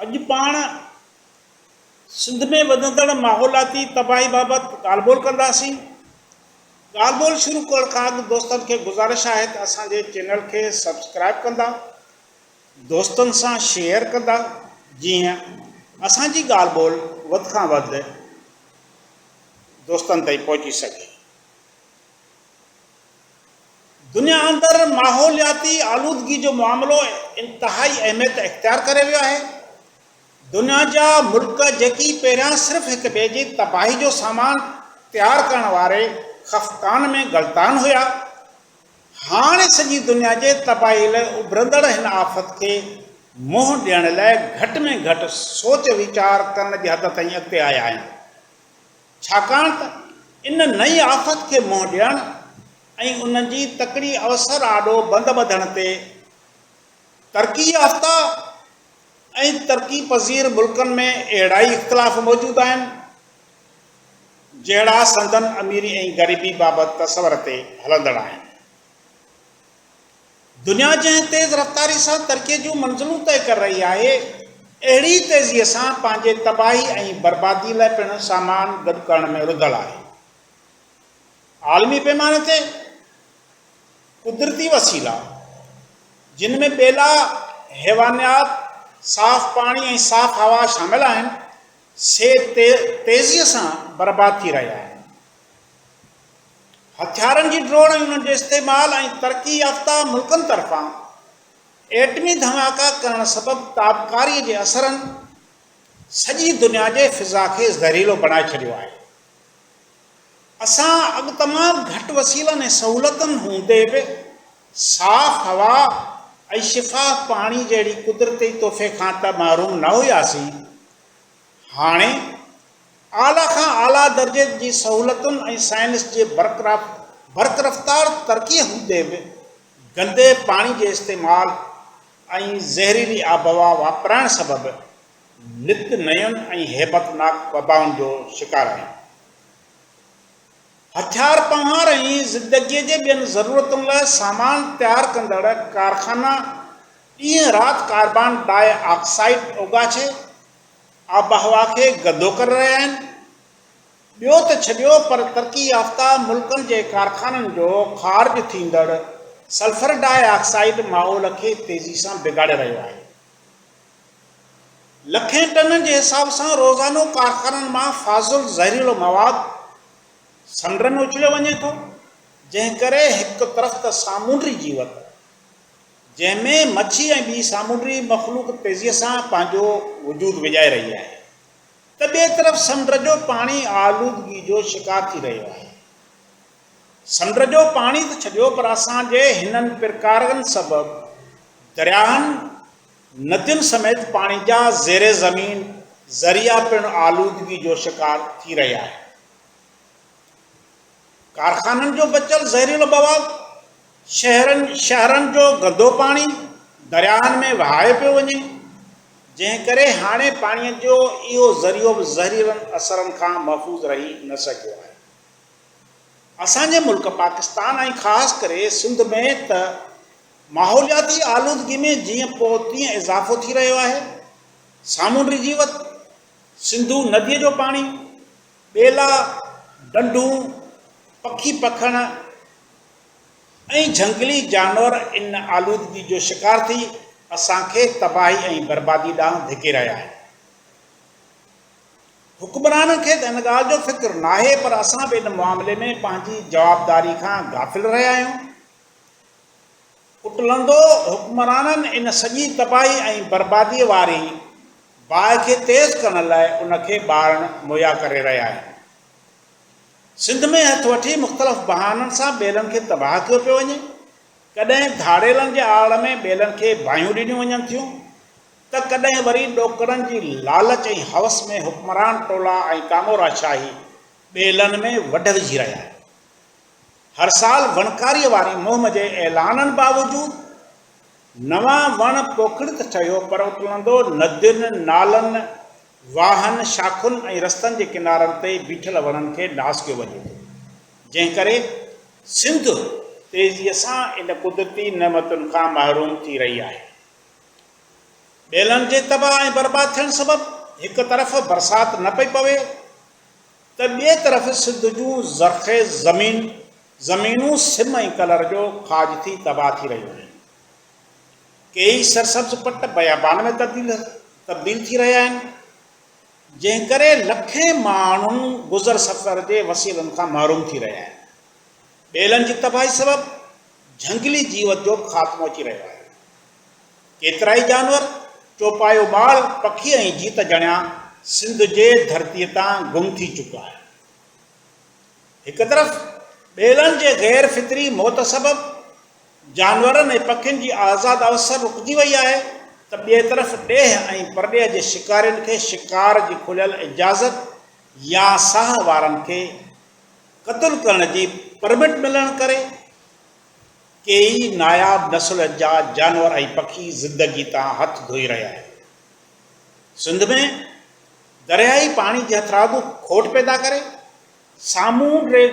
اڄ پاڻ سنڌ ۾ وڌندڙ ماحولياتي تباهي بابت ڳالهه ٻولهه ڪنداسين. ڳالهه ٻولهه شروع ڪرڻ کان اڳ دوستن کي گذارش آهي ته اسان جي چينل کي سبسڪرائيب ڪندا، دوستن سان شيئر ڪندا جيئن اسان جي ڳالهه ٻولهه وڌ کان وڌ دوستن تائين پهچي سگهي. دنيا اندر ماحولياتي آلودگي جو معاملو انتهائي اهميت اختيار ڪري ويو آهي. دنيا جا ملڪ جيڪي پهريان صرف هڪ ٻئي جي تباهي جو سامان تيار ڪرڻ واري خفقان ۾ غلطان هيا، هاڻ سڄي دنيا جي تباهي لاء اڀرندڙ هن آفت کي منهن ڏيڻ لاء گهٽ ۾ گهٽ سوچ ويچار ڪرڻ جي حد تائين اڳتي آيا آهن. ڇاڪاڻ ته ان نئين آفت کي منهن ڏيڻ ۽ ان جي تڪڙي اوسر آڏو بند ٻڌڻ تي ترقي يافته ۽ ترقي پذير ملڪن ۾ اهڙا ئي اختلاف موجود آهن، جهڙا سندن اميري ۽ غريبي بابت تصور تي هلندڙ آهن. دنيا جنهن تيز رفتاري سان ترقي جون منزلون طئي ڪري رهي آهي، اهڙي ئي تيزي سان پنهنجي تباهي ۽ بربادي لاء پڻ سامان گڏ ڪرڻ ۾ رڌل آهي. عالمي پيماني تي قدرتي وسيلا، جن ۾ ٻيلا، حيوانيات، صاف پاڻي ۽ صاف هوا شامل آهن، سي تيزي سان برباد ٿي رهيا آهن. هٿيارن جي ڊوڙ ۽ انهن جي استعمال ۽ ترقي يافته ملڪن طرفان ايٽمي ڌماڪا ڪرڻ سبب تابڪاري جي اثرن سڄي دنيا جي فضا کي زهريلو بڻائي ڇڏيو آهي. اسان اڳ تمام گهٽ وسيلن ۽ سهولتن هوندي به صاف هوا ۽ شفاف پاڻي جهڙي قدرتي تحفي کان ته محروم نه هياسين هاڻي اعليٰ کان اعليٰ درجي جي سهولتن ۽ سائنس جي برقرفتار ترقي هوندي به گندي پاڻي جي استعمال ۽ زهريلي آبهوا واپرائڻ سبب نت نين ۽ هيبتناڪ وبائن جو شڪار آهيون. هٿيار پنهار ۽ زندگيء جي ٻين ضرورتن لاء سامان تيار ڪندڙ ڪارخانا ڏينهن رات ڪاربان ڊاء آڪسائيڊ اوڳاڇي، آبهوا کي گندو ڪري رهيا آهن، ٻيو ته ڇڏيو پر ترقي يافته ملڪن جي ڪارخانن جو خارج ٿيندڙ سلفر ڊاء آڪسائيڊ ماحول کي تيزي سان بگاڙي رهيو آهي، لکين ٽنن جي حساب سان روزانو ڪارخانن مان فاضل زهريلو مواد سمنڊن ۾ اڇليو وڃي ٿو، جنهن ڪري هڪ طرف ته سامونڊي جيوت. جنهن ۾ مڇي ۽ ٻي سامونڊي مخلوق تيزيء سان پنهنجو وجود وڄائي رهي آهي ته ٻئي طرف سمنڊ جو پاڻي آلودگي جو شڪار ٿي رهيو آهي. سمنڊ جو پاڻي ته ڇڏيو پر اسان جي هنن پرڪارن سبب درياهن، ندين سميت پاڻي جا زير زمين ذريعا پڻ آلودگي جو شڪار ٿي رهيا آهن. ڪارخانن جو بچيل زهريلو مواد، شهرن شاهراهن جو گندو پاڻي درياهن ۾ وهايو پيو وڃي، جنهن ڪري هاڻي پاڻي جو اهو ذريعو به زهريلن اثرن کان محفوظ رهي نه سگهيو آهي. اسان جي ملڪ پاڪستان ۽ خاص ڪري سنڌ ۾ ته ماحولياتي آلودگي ۾ جيئن پوء تيئن اضافو ٿي رهيو آهي، سامونڊي جيوت، سنڌو نديء جو پاڻي، ٻيلا، ڏنڊون، پکي پکڻ ۽ جهنگلي جانور ان آلودگي جو شڪار ٿي اسان کي تباهي ۽ بربادي ڏانهن ڌڪي رهيا آهن. حڪمرانن کي ته ان ڳالهه جو فڪر ناهي پر اسان به ان معاملي ۾ پنهنجي جوابداري کان غافل رهيا آهيون. ڪٽلندو حڪمرانن ان سڄي تباهي ۽ برباديء واري باهه کي تيز ڪرڻ لاء ان کي ٻارڻ مهيا ڪري رهيا آهن. سنڌ ۾ هٿ وٺي مختلف بهانن سان ٻيلن کي تباهه ڪيو پيو وڃي. ڪڏهن ڌاڙيلن جي آڙ ۾ ٻيلن کي باهيون ڏنيون وڃن ٿيون ته ڪڏهن وري ڏوڪڙن جي لالچ ۽ هوس ۾ حڪمران ٽولا ۽ ڪاموراشاهي ٻيلن ۾ وڍ وجهي رهيا آهن. هر سال وڻڪاريء واري مهم جي اعلانن باوجود نوان وڻ پوکڻ ته ٺهيو پر اتلندو ندين، نالن، واهن، شاخن ۽ رستن جي ڪنارن تي بيٺل وڻن کي ناس ڪيو وڃي ٿو، جنهن ڪري سنڌ تيزيء سان ان قدرتي نعمتن کان محروم ٿي رهي آهي. ٻيلن جي تباهه ۽ برباد ٿيڻ سبب هڪ طرف برسات نه پئي پوي ته ٻئي طرف سنڌ جون زرخيز زمين زمينون سم ۽ ڪلر جو کاڄ ٿي تباهه ٿي رهيون آهن. ڪيئي سرسبز پٽ بيابان ۾ تبديل تبديل ٿي رهيا آهن، جنهن ڪري لکين ماڻهن گذر سفر جي وسيلن کان محروم ٿي رهيا آهن. ٻيلن جي تباهي سبب جهنگلي جيوت جو خاتمو اچي رهيو آهي. ڪيترائي جانور، چوپايو ٻال، پکي ۽ جيت جڻيا سنڌ جي ڌرتيء تان گم ٿي چڪا آهن. هڪ طرف ٻيلن جي غير فطري موت سبب جانورن ۽ پکين جي آزاد اوسر رڪجي وئي آهي ته ٻئي طرف ڏيهه ۽ پرڏيهه جي شڪارين کي شڪار جي کليل اجازت يا ساهه وارن کي قتل ڪرڻ جي پرمٽ ملڻ ڪري ڪيئي ناياب نسل جا جانور ۽ پکي زندگي تان هٿ ڌوئي رهيا آهن. سنڌ ۾ درياهي پاڻي جي هٿرادو کوٽ پيدا ڪري سامونڊي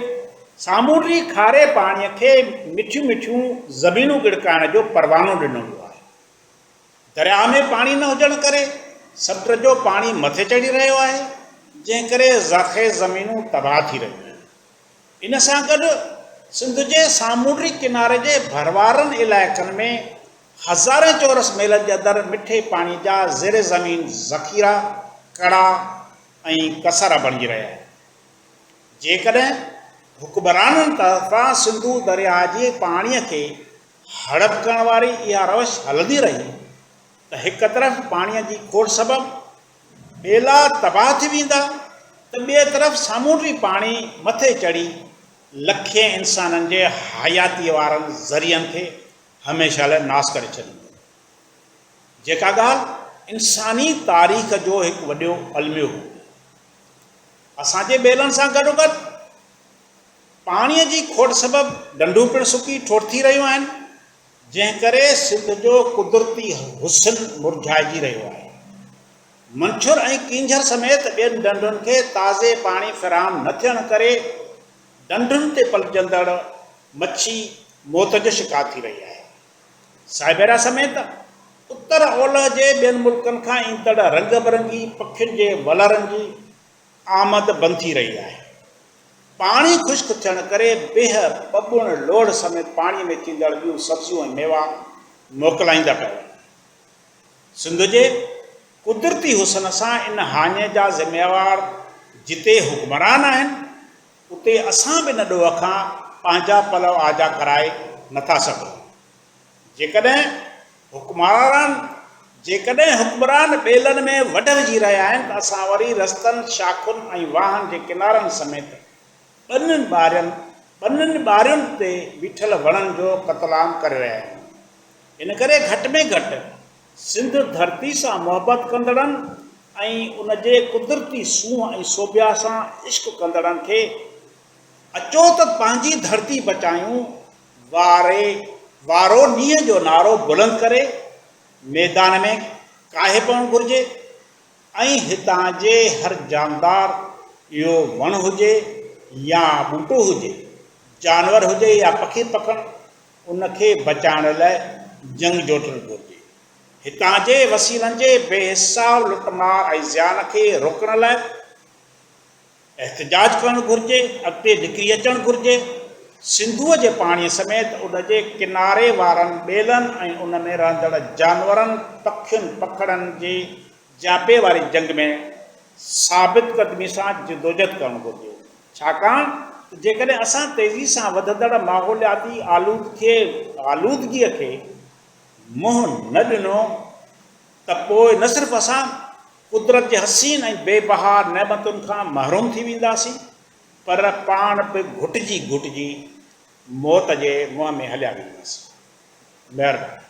سامونڊي کاري پاڻي کي مٺيون مٺيون زمينون ڳڙڪائڻ جو پروانو ڏنو ويو آهي. درياهه ۾ پاڻي نه هجڻ ڪري سمنڊ جو پاڻي مٿي چڙهي رهيو آهي، جنهن ڪري زرخيز زمينون تباهه ٿي رهيون آهن. ان سان گڏ سنڌ جي سامونڊي ڪناري جي ڀروارن علائقن ۾ هزارين چورس ميلن جي اندر مٺي پاڻي جا زير زمين ذخيرا ڪڙا ۽ ڪسارا بڻجي رهيا آهن. جيڪڏهن حڪمرانن طرفان سنڌو درياء جي پاڻي کي هڙپ ڪرڻ واري اها روش هلندي رهي ته هڪ طرف پاڻي جي کوٽ سبب ٻيلا تباهه ٿي ويندا ته ٻئي طرف سامونڊي پاڻي مٿي چڙهي لکين انسانن جي حياتيء وارن ذريعن کي هميشه لاء ناس ڪري ڇڏيندو. جيڪا ڳالهه انساني تاريخ جو هڪ وڏيو الميو هو. اسان جي ٻيلن سان گڏوگڏ پاڻيء جي کوٽ سبب ڍنڍون پڻ سڪي ٺوٺ ٿي رهيون آهن. جنهن ڪري سنڌ جو قدرتي حسن مرجهائجي رهيو آهي. منڇر ۽ ڪينجهر سميت ٻين ڍنڍن کي تازي پاڻي فراهم نه ٿيڻ ڪري ڍنڍن تي پلجندڙ مڇي موت جو شڪار ٿي رهي آهي. سائبيريا سميت اتر اولهه جي ٻين ملڪن کان ايندڙ رنگ برنگي پکين جي ولرن جي آمد بند ٿي رهي آهي. پاڻي خشڪ ٿيڻ ڪري بيهه، ٻٻوڻ، لوڙهه سميت پاڻي ۾ ٿيندڙ ٻيون سبزيون ۽ ميوا موڪلائيندا پيا وڃن. سنڌ جي قدرتي حسن سان ان هاڃي جا ذميوار جتي حڪمران آهن اتي اسان به ان ڏوهه کان پنهنجا پلو آجا ڪرائي نٿا سگهون. جيڪڏهن حڪمران جيڪڏهن حڪمران ٻيلن ۾ وڍ وجهي رهيا آهن ته اسان وري رستن، شاخن ۽ واهن جي ڪنارن سميت ٻنين ٻارين ٻنين ٻارين تي بيٺل وڻن جو قتل عام ڪري رهيا آهيون. ان ڪري گهٽ ۾ گهٽ سنڌ ڌرتي سان محبت ڪندڙن ۽ ان جي قدرتي سونهن ۽ سوڀيا سان عشق ڪندڙن کي اچو ته پنهنجي ڌرتي بچايون واري وارو نينهن جو نعرو بلند ڪري ميدان ۾ ڪاهي پوڻ گهرجي ۽ هتان جي هر جاندار اهو وڻ هجي يا ٻوٽو هجي، جانور هجي يا پکي پکڻ ان کي بچائڻ لاء جنگ جوٽڻ گهرجي. هتان جي وسيلن جي بي حساب لٽ مار ۽ زيان کي روڪڻ لاء، احتجاج ڪرڻ گهرجي، اڳتي نڪري اچڻ گهرجي، سنڌوء جي پاڻيء سميت ان جي ڪناري وارن ٻيلن ۽ ان ۾ رهندڙ جانورن، پکين، پکڙن جي جياپي واري جنگ ۾ ثابت قدمي سان جدوجھد ڪرڻ گهرجي، ڇاڪاڻ ته جيڪڏهن اسان تيزي سان وڌندڙ ماحولياتي آلودگيء کي منهن نه ڏنو ته پوء نه صرف اسان قدرت جي حسين ۽ بي بها نعمتن کان محروم ٿي وينداسين پر پاڻ به گهٽجي گهٽجي موت جي منهن ۾ هليا وينداسين. مهرباني.